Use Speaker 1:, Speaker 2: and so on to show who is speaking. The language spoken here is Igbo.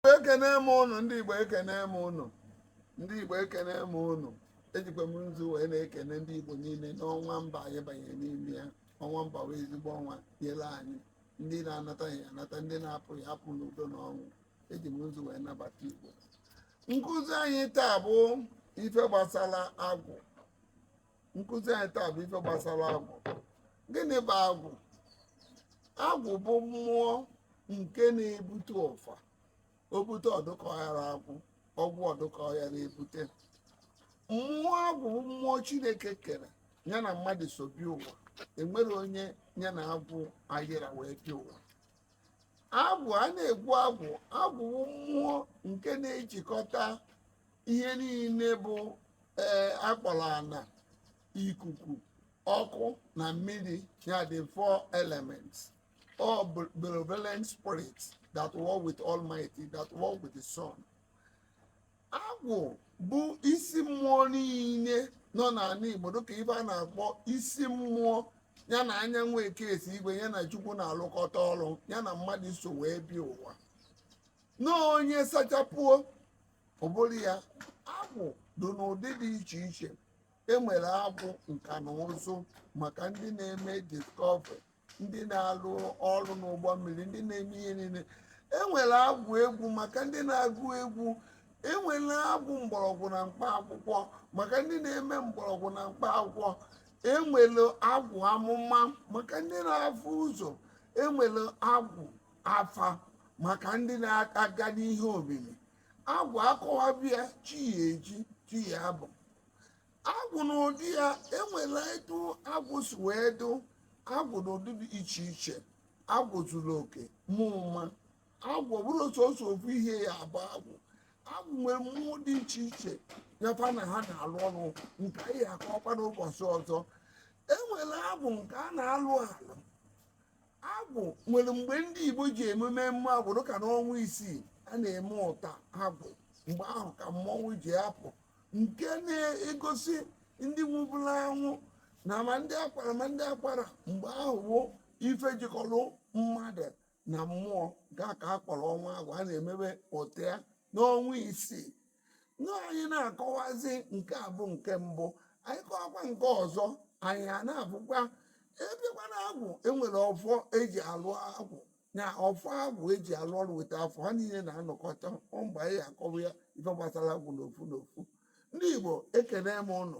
Speaker 1: Igbo ekene m ụnụ ndị Igbo ekene m ụnụ ndị Igbo ekene m ụnụ ejikwa m nzu wee na-ekene ndị Igbo niile n'ọnwa ember anyị banyere n'ime ya ọnwa ember wee ezigbo ọnwa nyere anyị ndị na-anata ya anata ndị na-apụ ya apụ n'udo na ọṅụ eji m nzu wee nabata Igbo nkụzi anyị taa bụ ife gbasara agwụ nkụzi anyị taa bụ ife gbasara agwụ gịnị bụ agwụ agwụ bụ mmụọ nke na-ebute ụfa o bute ọ dụka ọya ara agwụ ọgwụ ọ dụka ọya ara ebute mmụọ agwụ bụ mmụọ chineke kere ya na mmadụ so bịa ụwa enwere onye ya na agwụ ayịra wee bịa ụwa agwụ a na-ekwu agwụ agwụ bụ mmụọ nke na-ejikọta ihe niile bụ ee akpọrọ ana ikuku ọkụ na mmiri ya the four elements all be- benevolent spirits that work with almighty that work with the sun agwụ bụ isi mmụọ niile nọ n'ana igbo dịka ife a na-akpọ isi mmụọ ya na anyanwụ ekesi igwe ya na chukwu na-alụkọta ọrụ ya na mmadụ so wee bịa ụwa na onye sachapuo ụbụrụ ya agwụ dị n'ụdị dị iche iche enwere agwụ nka na ụzụ maka ndị na-eme discovery ndị na-alụ ọrụ n'ụgbọ mmiri ndị na-eme ihe niile enwere agwụ egwu maka ndị na-agụ egwu enwere agwụ mgbọrọgwụ na mkpa akwụkwọ maka ndị na-eme mgbọrọgwụ na mkpa akwụkwọ enwere agwụ amụma maka ndị na-afụ ụzọ enwere agwụ afa maka ndị na-aga n'ihe omimi agwụ akọwaba ya chi ya-eji chi ya-abọ agwụ n'ụdị ya enwere etu agwụ si wee dụ agwụ n'ụdị dị iche iche agwụ zuru oke ma ụma agwụ bụrụ sọsọ ofu ihe ya abụ agwụ agwụ nwere mmụọ dị iche iche nyefa na ha na-alụ ọrụ nke anyị akọkwa n'ụbọchị ọzọ enwere agwụ nke a na-alụ alụ agwụ nwere mgbe ndị igbo ji eme emume agwụ dịka n'ọnwa isii a na-eme ụta agwụ mgbe ahụ ka mmọnwụ ji apụ nke na-egosi ndị nwụbụrụ anwụ na ma ndị akwara ma ndị akwarọ mgbe ahụ bụ ife jikọrọ mmadụ na mmụọ ya ka a kpọrọ ọnwa agwụ a na-emebe ụta ya n'ọnwa isii na anyị na-akọwazi nke a bụ nke mbụ anyị kọwakwa nke ọzọ anyị a na-abụkwa ebekwa na agwụ enwere ọfọ eji alụ agwụ na ọfọ agwụ eji alụ ọrụ weta afọ ha niile na-anọkọta ọ mgbe anyị akọwa ya ife gbasara agwụ n'ofu n'ofu ndị igbo ekene m ụnụ